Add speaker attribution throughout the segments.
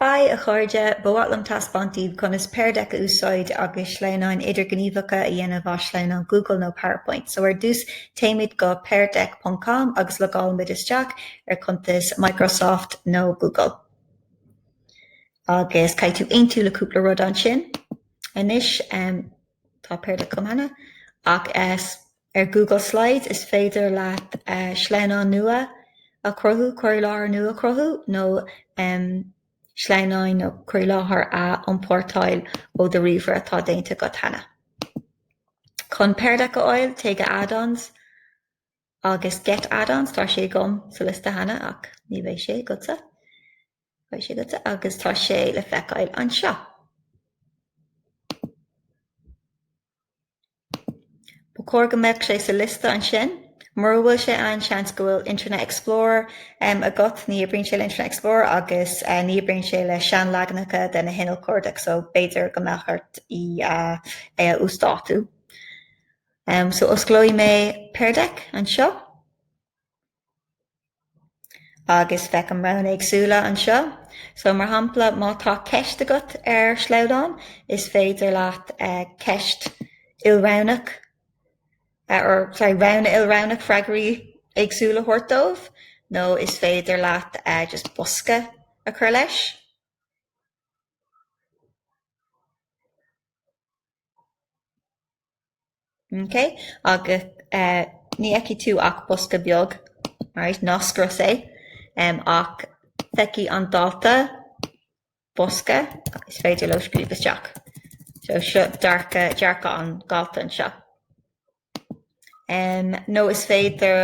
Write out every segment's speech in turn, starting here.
Speaker 1: Haigh, a chairde! Ba mhaith liom taispeáint daoibh conas Pear Deck a úsáid agus sleamhnáin idirghníomhacha a dhéanamh as sleamhnán Google nó PowerPoint. So, ar dtús, téimid go peardeck ponc com agus logálaimid isteach ar chuntas Microsoft nó Google. Agus caithfidh tú aontú le cúpla rud ansin. Anois, tá Pear Deck agam cheana, ach. Ar Google Slides, is féidir leat sleamhnán nua a chruthú, cur i láthair nua a chruthú, nó sleamhnáin, nó cur i láthair, a iompórtáil ó do ríomhaire atá déanta agat cheana. Chun Pear Deck a fháil, téigh go Add-ons agus Get Add-ons, tá sé agam sa liosta cheana ach ní bheidh sé agatsa, beidh sé agatsa, agus tá sé le feiceáil anseo. Ba chóir go mbeadh sé sa liosta ansin. Mura bhfuil sé ann, seans go bhfuil Internet Explorer agat, ní oibríonn sé le Internet Explorer agus ní oibríonn sé le seanleaganacha de na hinnill cuardaigh so b'fhéidir go mbeadh ort é a uasdátú. So osclóidh mé Pear Deck anseo. Agus feicim roghanna éagsúla anseo. So, mar shampla, má tá ceist agat ar shleamhnán, is féidir leat ceist ilroghnach, or, sorry, roghanna ilroghnach freagraí éagsúla a thabhairt dóibh, nó is féidir leat just bosca a chur leis. Ok agus eh ní fheicfidh tú ach bosca beag alright ná scrios é em ach feicfidh an dalta bosca is féidir leo scríobh isteach. So seo dearcadh dearcadh an dalta anseo. Em nó is féidir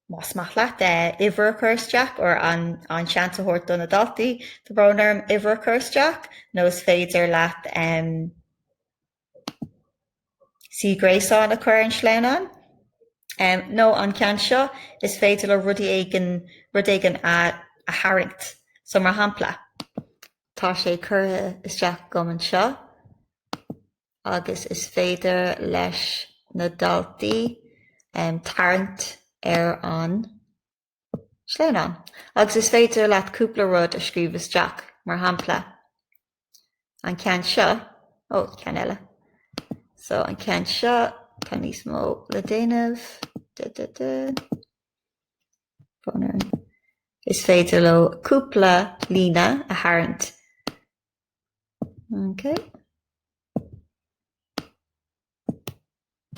Speaker 1: más maith leat eh uimhir a chur isteach or an an seans a thabhairt do na daltaí tá brón orm uimhir a chur isteach nó is féidir leat em Suíomh gréasáin a chur ar an sleamhnán. Nó an ceann seo, is féidir leo rud éigin rud éigin a tharraingt. So, mar shampla. Tá sé curtha isteach agam anseo agus is féidir leis na daltaí tarraingt ar an. Sleamhnán. Agus is féidir leat cúpla rud a scríobh isteach, mar shampla, an ceann seo, ó, ceann eile, so, an ceann seo, tá níos mó le déanamh, de, de, de, bonn ar an. Is féidir leo cúpla líne a tharraingt, ok.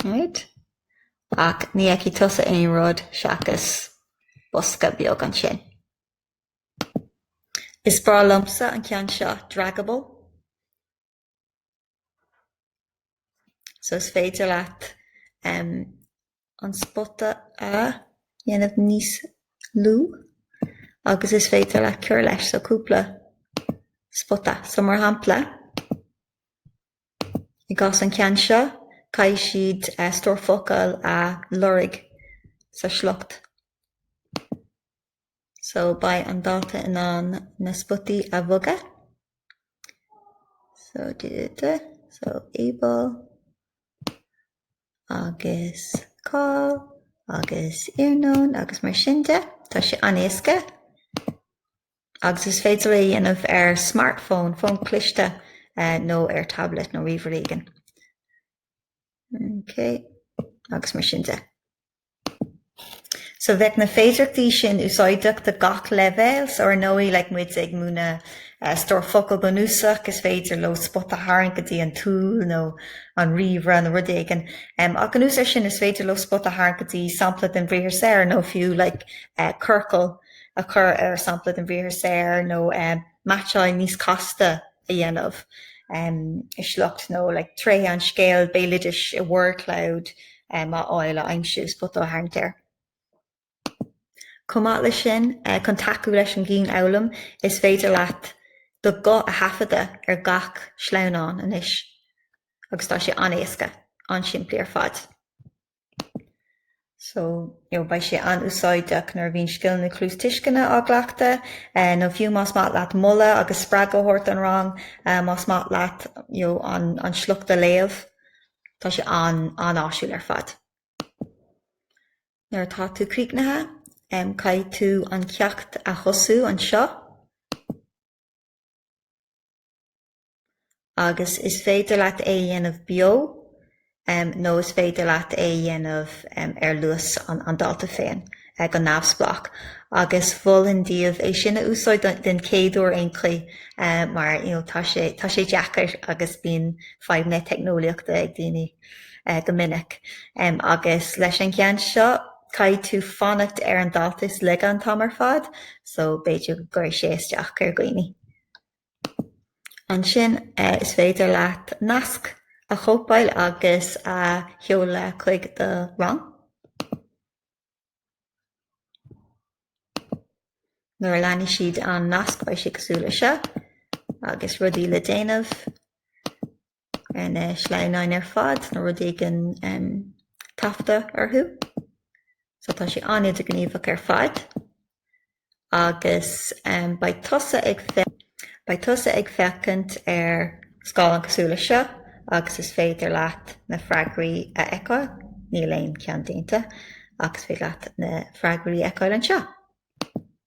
Speaker 1: Right. Ach ní fheicfidh tusa aon rud seachas bosca beag ansin. Is breá liomsa an ceann seo, draggable, so is féidir leat em, an spota a dhéanamh níos lú agus is féidir leat cur leis so cúpla spota. So mar shampla, I gcás an cheann seo, caithfidh siad stór focal a lorg sa sliocht so beidh an dalta in ann na spotaí a bhogadh so di di di so Eabhra agus cáil agus iarnóin agus mar sin de. Tá sé an-éasca. agus is féidir é a dhéanamh ar smartphone, fón cliste, nó ar tablet nó ríomhaire éigin. OK. Agus mar sin de. So bheadh na féidearthachtaí sin úsáideach do gach leibhéal, so ar ndóigh, like, má tá muid ag múineadh stór focal bunúsach, is féidir leo spota a tharraingt go dtí an stól nó an ríomhaire nó rud éigin. Ach anuas air sin, is féidir leo spota a tharraingt go dtí sampla den bhriathar saor nó fiú, like, circle. a chur ar sampla den bhriathar saor nó meaitseáil níos casta a dhéanamh i sliocht nó tréithe an scéil bhéaloidis i word cloud a fháil, a aimsiú, spota a tharraingt air. Chomh maith leis sin, chun tacú leis an gcianfhoghlaim, is féidir leat do ghuth a thaifeadadh ar gach sleamhnán anois agus tá sé an-éasca, an-simplí ar fad. so you know beidh sé an-úsáideach nuair a bhíonn scileanna cluastuisceana á gcleachtadh eh, nó fiú más maith leat moladh agus spreagadh a thabhairt don rang, eh, más maith leat you know, an, an sliocht a léamh, tá sé an, an-áisiúil ar fad. Nuair atá tú críochnaithe, em, caithfidh tú an ceacht a thosú anseo. agus is féidir leat é a dhéanamh beo nó is féidir leat é a dhéanamh ar luas an dalta féin, go neamhspleách, agus mholfainn daoibh é sin a úsáid den chéad uair ar aon chaoi mar tá sé deacair agus bíonn fadhbanna teicneolaíochta ag daoine go minic. Agus leis an gceann seo caithfidh tú fanacht ar an dalta is laige an t-am ar fad so b'fhéidir go gcuirfidh sé isteach ar dhaoine. Ansin is féidir leat nasc a chóipeáil agus a sheoladh chuig do rang. Nuair a leanfaidh siad an nasc beidh sé cosúil leis seo. Agus rudaí le déanamh. na sleamhnáin ar fad, nó rud éigin taifeadta orthu. So tá sé an-idirghníomhach ar fad. Agus beidh tusa ag beidh tusa ag féachaint ar scáileán cosúil leis seo agus is féidir leat na freagraí a fheiceáil. Níl aon cheann déanta ach is féidir leat na freagraí a fheiceáil anseo.